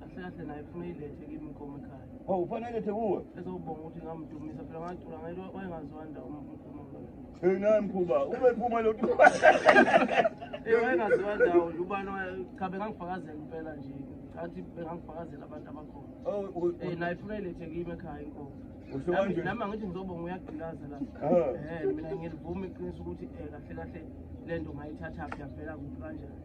kahle kahle naye funa ilethe kimi inkomo ekhaya oh ufana ilethe kuwe ezobonga ukuthi ngamdumisa phela ngacula ngaye wayengaziwa ndawo umkhuluma Hey naye mkhuba ube phuma lo nto Eh wayengaziwa ndawo nje ubani cha bengangifakazela impela nje athi bengangifakazela abantu abakhona oh eh naye funa ilethe kimi ekhaya inkomo usho kanje nami ngithi ngizobonga uyagqilaza la eh mina ngilivuma iqiniso ukuthi eh kahle kahle lento ngayithatha phi yavela kuphi kanjani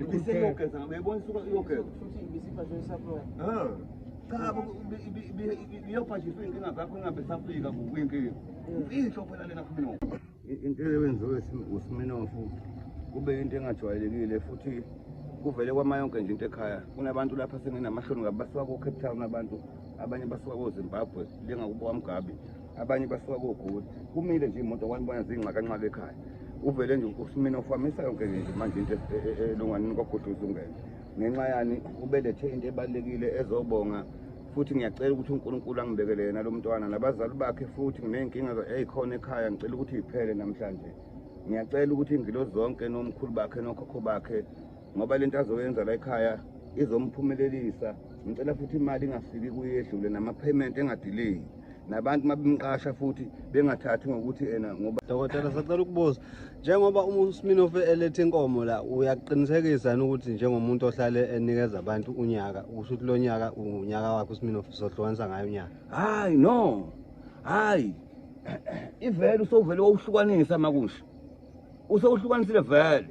Ibiseyogeza, uyayibona isuka iyogeza. Futhi ibisibhajwe isaphiwa. Ah. Cha, biyobhajiswa inkinga zakho ingabe safika kuyinkinga. Imfihlo phela lena kuMinofu. Into eyenziwe uSiminofu kube into engajwayelekile futhi kuvele kwama yonke nje into ekhaya kunabantu lapha senginamahloni ngabe basuka ko-cape town abantu abanye basuka kozimbabwe lengakubo kwamgabi abanye basuka kogoli kumile nje imoto wanibona zinxakanxaka ekhaya uvele nje usumina ufamisa yonke into manje into e- e- e- elunganini kwagoduza ungene ngenxa yani ubelethe into ebalulekile ezobonga futhi ngiyacela ukuthi unkulunkulu angibekele yena lo mntwana nabazali bakhe futhi nginey'nkinga eyikhona ekhaya ngicela ukuthi yiphele namhlanje ngiyacela ukuthi iy'ngilo zonke nomkhulu bakhe nokhokho bakhe ngoba lento azoyenza la ekhaya izomphumelelisa ngicela futhi imali ingafiki kuyedlule nama-payment engadileki nabantu uma bemqasha futhi bengathathi ngokuthi ena ngoba dokotela sacela ukubuza njengoba uma usminofe eletha inkomo la uyakuqinisekisa yini ukuthi njengomuntu ohlale enikeza abantu unyaka usho ukuthi lo nyaka unyaka wakhe usminofe uzohlukanisa ngayo unyaka hayi no hayi ivele usovele wawuhlukanisa makusho usewuhlukanisile vele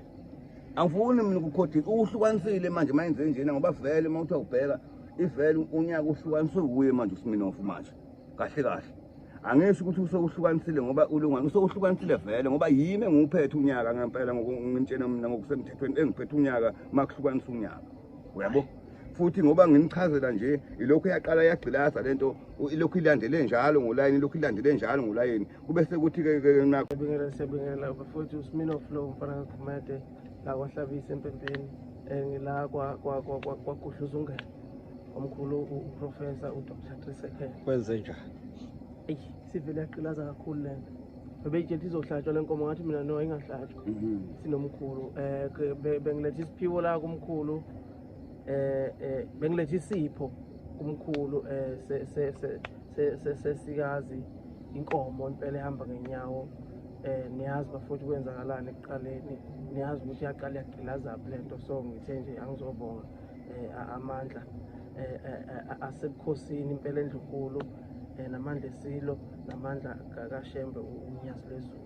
angifuni mina ukukhodi uhlukanisile manje uma yenze njena ngoba vele uma uthi awubheka ivele unyaka uhlukaniswe wuye manje usiminofu manje kahle kahle angisho ukuthi usewuhlukanisile ngoba ulungwane usewuhlukanisile vele ngoba yimi enguphethe unyaka ngempela ngokungitshena mina ngokusemthethweni engiphethe unyaka uma kuhlukanisa unyaka uyabo futhi ngoba ngimchazela nje ilokhu yaqala yagqilaza lento ilokhu ilandele njalo ngolayini ilokhu ilandele njalo ngolayini kube sekuthi ke ke nakho sibingela sibingela bafowethu uSmino Flow mfana kaGumede la kwahlabisa empempeni eh, ngila kwa kwa kwa kwaguhluza ungene omkhulu uprofessor uDr. Trisekhe kwenze njani sivele yagqilaza kakhulu le nto bebeyitshela ukuthi izohlatshwa le nkomo ngathi mina no ingahlatshwa mhm. sinomkhulu um bengiletha isiphiwo la kumkhulu um bengiletha isipho kumkhulu um sesikazi inkomo impela ehamba ngenyawo um niyazi bafuthi kwenzakalani ekuqaleni niyazi ukuthi yaqala yagqilazaphi le nto so ngithe nje angizobonga um amandla um asebukhosini impela endlunkulu um namandla esilo namandla kakashembe unyazi lwezulu